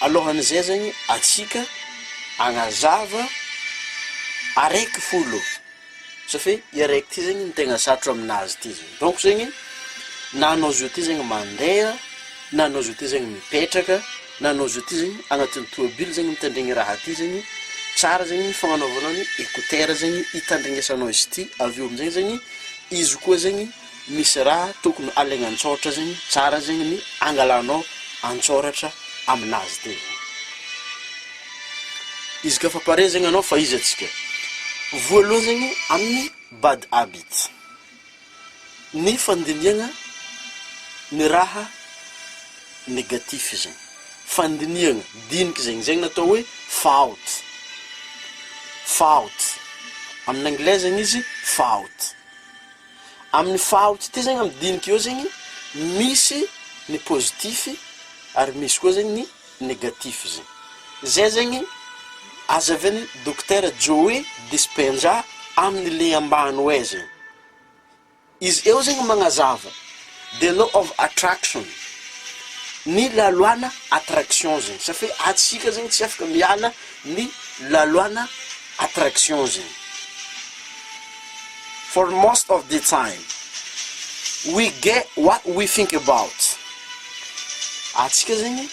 Alohan'izay zegny atsika agnazava araiky folo satria i araiky ty zegny ny tegna satro aminazy ty zegny donc zegny na anao zio ty zegny mandeha na anao zio ty zegny mipetraka na anao zio ty zegny agnatin'ny tomobil zegny mitandregny raha ty zegny tsara zegny ny fagnanaovanao ny écouteur zegny hitandregnesanao izy ty avy eo amizay zegny izy koa zegny Misy raha tokony alaigna an-tsaortra zegny, tsara zegny ny angalanao an-tsaoratra aminazy teo zany. Izy ka fa pare zegny anao fa iza tsika? Voaloha zegny amin'ny bad habit, ny fandinihagna ny raha negatif zegny, fandinihagna diniky zegny, zegny ny atao hoe fault, fault, amin'ny anglais zegny izy fault. Amin'ny fahaoty ty zegny amin'ny dinika eo zegny misy ny positif ary misy koa zegny ny negatif zegny. Zay zegny azavin'i Dokotera Joey Dispenza amin'ny le ambany hoe zegny. Izy eo zegny magnazava. The law of attraction, ny laloana attraction zegny, satria hoe antsika zegny tsy afaka miala ny laloana attraction zegny, for most of the time we get what we think about, antsika zegny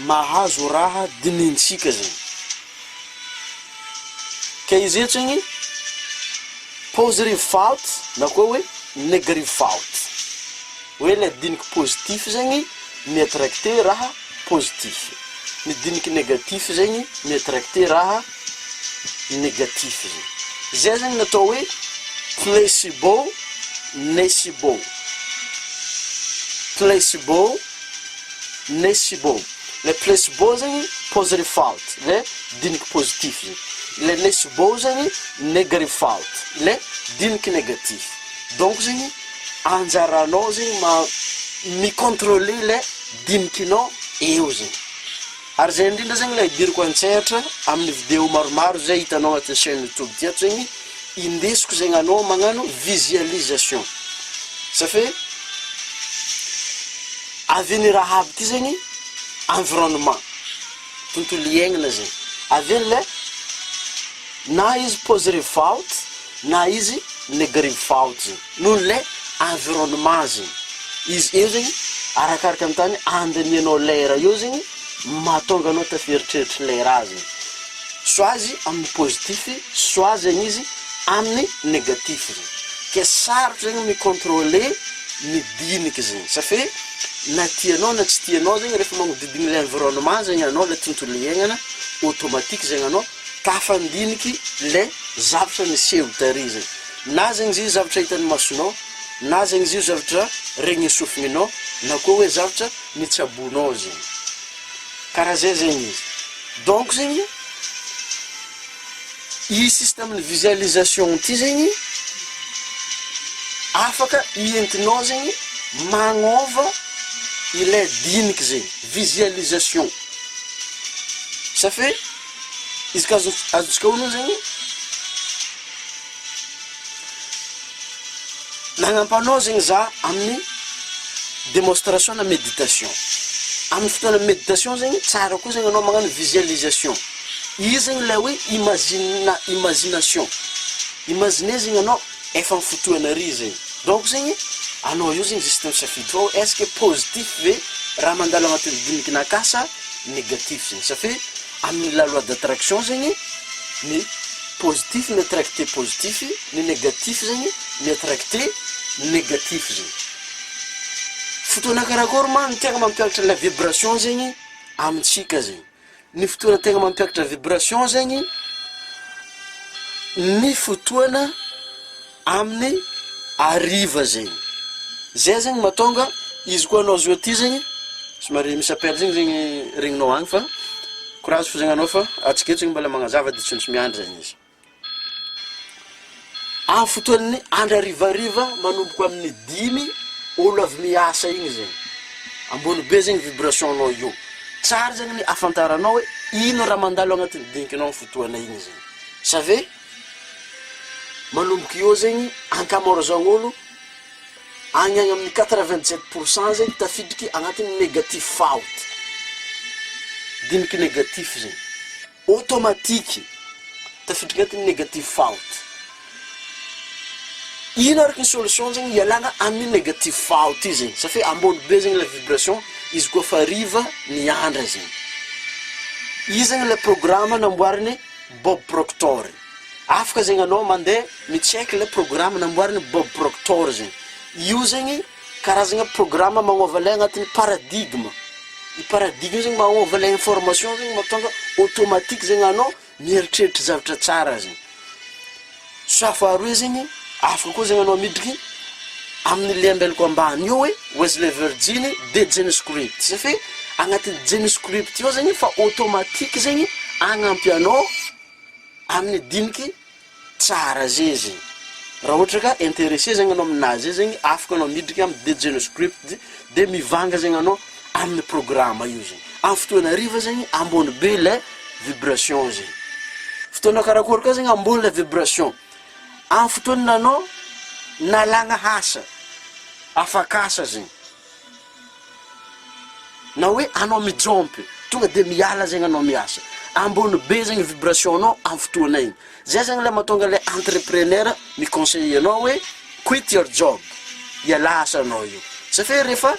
mahazo raha dinintsika zegny. Ka izy eto zegny positive thought na koa hoe negative thought. Hoe le diniky positif zegny mi-attracter raha positif. Ny diniky negatif zegny mi-attracter raha negatif zegny. Zay zegny ny atao hoe placebo, necibo. Placebo. Nesibo, ilay placebo zegny positive thought, ilay diniky positif zegny. Ilay nesibo zegny negative thought, ilay diniky negatif. Donc zegny, anjaranao zegny ma mi-controler ilay dinikinao eo zegny. Ary zay indrindra zegny le hidiriko antsehatra amin'ny video maromaro zay hitanao agnatin'ny chaine youtube ty ato zegny, indesiko zegny anao magnano visualisation za fe avy eo ny raha aby ty zegny environnement, tontolo iaignana zay, avy eo le na izy pause rehefa out na izy le garivo fa out zegny. noho ilay environnement zegny, izy eo zegny arakaraka ny tany andinihanao lay raha eo zegny mahatonga anao hita fieritreritry ilay raha zegny, soit azy amin'ny positif soit zegny izy amin'ny negatif zegny, ke sarotra zegny mi controler ny diniky zegny satria na tianao na tsy tianao zegny rehefa magnodidigny ilay environnement zegny anao ilay tontolo iaignana automatique zegny anao tafandiniky ilay zavatra niseho tary zegny, Na zegny izy io zavatra hitan'ny masonao, na zegny izy io zavatra regnin'ny sofin'inao, na koa hoe zavatra nitsaboinao zegny. Karaha zay zegny izy. Donc zegny, i système-n'ny visualisation ty zegny, afaka ientinao zegny magnôva ilay diniky zegny, visualisation. Safe izy ka azo, azontsika onony zegny. Nagnampanaozigny za amin'ny démonstration na méditation. Amin'ny fotoana méditation zegny, tsara koa zegny anao magnano visualisation. Io zegny ilay hoe imagine, imagination. Imaginer zegny anao efa amin'ny fotoana ary zegny. Donc zegny, anao eo zegny zisty misafidy fa hoe est ce que positif ve raha mandalo agnatin'ny dinigin'ankahy sa négatif zegny. Satria amin'ny la loi d'attraction zegny ny. positif mi attracte positif ny negatif zegny mi attracte negatif zegny fotoana karakôry ma ny tegna mampiakatra ilay vibration zegny amintsika zegny ny fotoana tegna mampiakatra vibration zegny ny fotoana Aminy hariva zegny. Zay zegny mahatonga izy koa anao zao aty zegny somary misy appel zegny zegny regninao agny fa courage fo zegny anao fa atsika eto mbola magnazava de tsy maintsy miandry zegny izy. Amin'ny fotoan'ny andro harivariva manomboka amin'ny dimy olo avy miasa igny zegny, ambony be zegny vibration anao eo, tsara zegny ny ahafantaranao hoe ino raha mandalo agnatin'ny dinganao fotoana igny zegny, savez. Manomboka eo zegny ankamaroazagn' olo agny agny amin'ny quatre vingt sept pour cent zegny tafiditry agnatin'ny negatif faot, diniky negatif zegny, ôtômatiky tafiditry agnatin'ny negatif faot. Ino araka ny solution zegny hialagna amin'ny negatif faot io zegny satria ambony be zegny le vibration izy koa fa hariva ny andra zegny, io zegny le programa namboariny. Bob Proctor iny. Afaka zegny anao mandeha mi-check le programa namboarin'i Bob Proctor zegny. Io zegny karazagna programa magnova lay agnatin'ny paradigme. I paradigme io zegny magnova lay information zegny mahatonga automatique zegny anao mieritreritra zavatra tsara zegny. Soit faharoa izy igny afaka koa zegny anao miditry aminy le ambelako ambany io hoe Wesley Virginy de Genescript zay fe agnatiny Genescript io zegny fa automatique zegny agnampy anao aminy diniky tsara zay izy raha ohatra ka interesse zegny anao aminazy zay zegny afaka anao miditry aminy de Genescript. Dia mivanga zegny anao amin'ny programa io zegny. Amin'ny fotoana hariva zegny ambony be ilay vibration zegny. Fotoana karakôry koa zegny ambony ilay vibration? Amin'ny fotoana anao nalagna asa, afak'asa zegny, na hoe anao mijompy, tonga dia miala zegny anao miasa. Ambony be zegny vibration-nao amin'ny fotoana igny. Zay zany ilay mahatonga ilay entrepreneur mi-conseiller anao hoe quit your job, ialahy asanao io. Zay fa hoe rehefa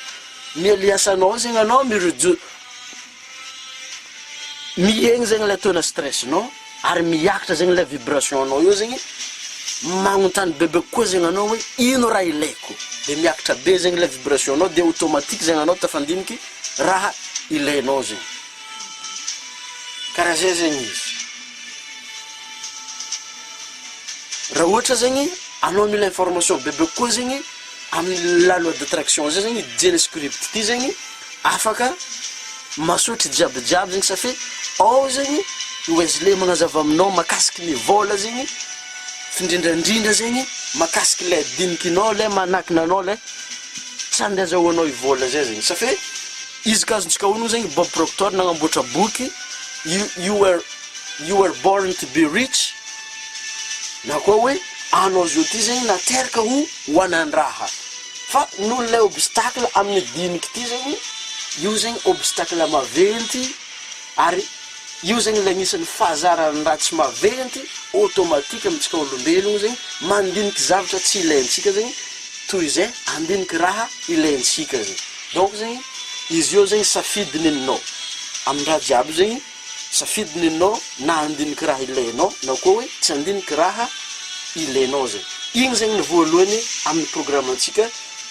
mialia asanao eo zegny anao, mi-redu- mihegny zegny ilay taux-na stress-nao ary miakatra zegny ilay vibration-nao eo zegny, magnontany bebe kokoa zegny anao hoe ino raha ilaiko? De miakatra be zegny ilay vibration-nao de automatique zegny anao tafandiniky raha ilainao zegny. Karaha zay zegny izy. Raha ohatra zegny anao mila information bebe kokoa zegny amin'ny la loi d'attraction zay zegny didiana script ty zegny afaka masoitry jiaby jiaby zegny satria ao zegny i Wesley magnazava aminao makasiky ny vôla zegny findrindrandrindra zegny makasiky le dinikinao le manakina anao le tsy andeha azahoanao i vôla zay zegny satria Izy ka azontsika onoina zegny Bob Proctor nagnamboatra boky You You Were You Were Born To Be Rich na koa hoe anao zao ty zegny nateraka ho wanan-draha fa noho ilay obstacle amin'ny diniky ty zegny io zegny obstacle maventy Ary io zegny le agnisan'ny fahazaran'ny raha tsy maventy automatique amintsika olombelogno zegny mandiniky zavatra tsy ilaintsika zegny toy izay andiniky raha ilaintsika zegny donc zegny izy io zegny safidy neninao amin-draha jiaby zegny safidy neninao na andiniky raha ilainao na koa hoe tsy andiniky raha ilainao zegny igny zegny ny voalohany amin'ny programme antsika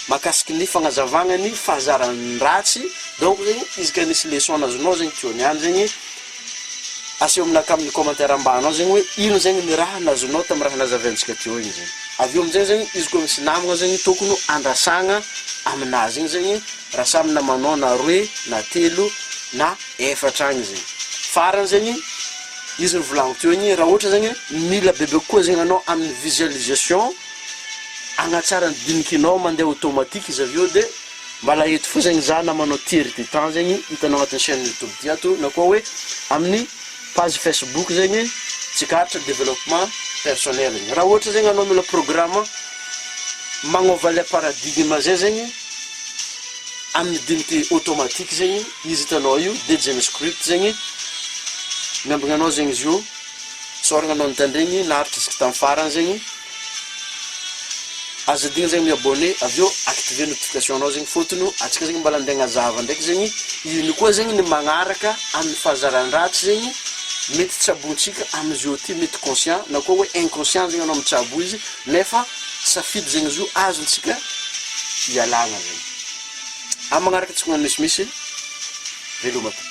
Makasiky ny fagnazavagna ny fahazaran'ny ratsy, donc zegny izy ka nisy leçon nazonao zegny teo niany zegny, aseho aminakahy amin'ny commentaire ambany ao zegny hoe ino zegny ny raha nazonao tamin'ny raha nazavaintsika teo igny zegny. Avy eo amin'izay zegny izy koa misy namagna zegny tokony ho andrasagna aminazy igny zegny raha samy namanao na roe na telo na efatra agny zegny. Farany zegny, izy nivolagniko teo igny, raha ohatra zegny mila bebe kokoa zegny anao amin'ny visualisation, hanatsara ny dinikinao mandeha automatique izy avy eo de mbala eto fozagny za na manao tiers de temps zegny hitanao agnatin'ny chaine youtube ty ato na koa hoe amin'ny page facebook zegny tsikaritra développement personnel igny raha ohatra zegny anao mila programme magnova le paradigme zay zegny amin'ny diniky automatique zegny izy hitanao io de jeunescript zegny miambigna anao zegny izy io Sorogno anao nitandregny naharitra isky tam farany zegny, aza adigno zegny mi abonné avy eo activer notification nao zegny fôtony antsika zegny mbala nde agnazava ndraiky zegny ino koa zegny ny magnaraka aminy fahazaran dratsy zegny mety tsabontsika aminy zio ty mety conscient na koa hoe inconscient zegny anao mitsabo izy nefa safidy zegny zio azontsika ialagna zegny am magnaraka tsika magnano misimisy veloma tompoko.